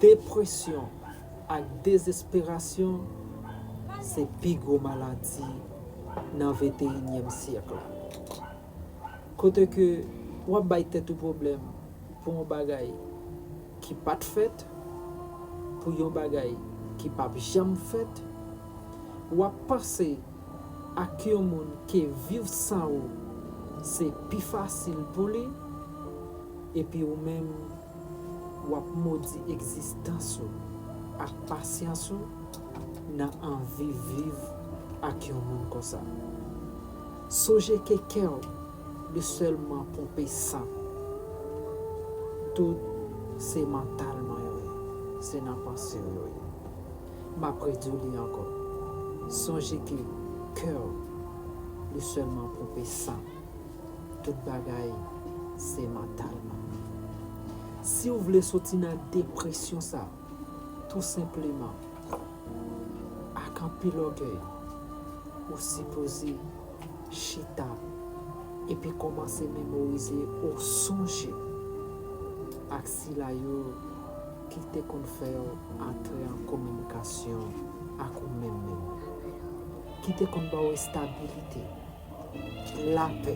Depresyon ak dezesperasyon se pi gwo maladi nan venteyinyèm syèk la. Kote ke w ap bay tèt ou pwoblèm pou yon bagay ki pa t fèt, pou yon bagay ki p ap janm fèt, w ap panse ak yon moun ke viv san ou se pi fasil pou li, epi ou menm, w ap modi egzistans ou ak pasyans ou nan anvi viv ak yon moun konsa. Sonje ke kè w li sèlman ponpe san, tout se mantalman yo ye, se nan panse w yo ye. M ap redi w li ankò, sonje ke kè w li sèlman ponpe san. Tout bagay se mantal man. Siw vle soti nan depresyon sa tou senpleman ak anpil ògèy ou sipoze chita epi kòmanse memorize ou sonje ak sila yo ki te konn fèw antre an kominikasyon ak ou menm menm. Ki te konn baw estabilite. lapè,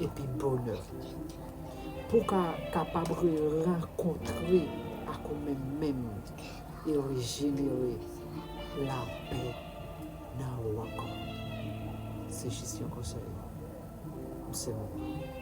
epi bonè. Pou w ka kapab re-rankontre ak ou menm menm e rejenere lapè nan ou ankò. Se jis yon konsèy. M se Mona.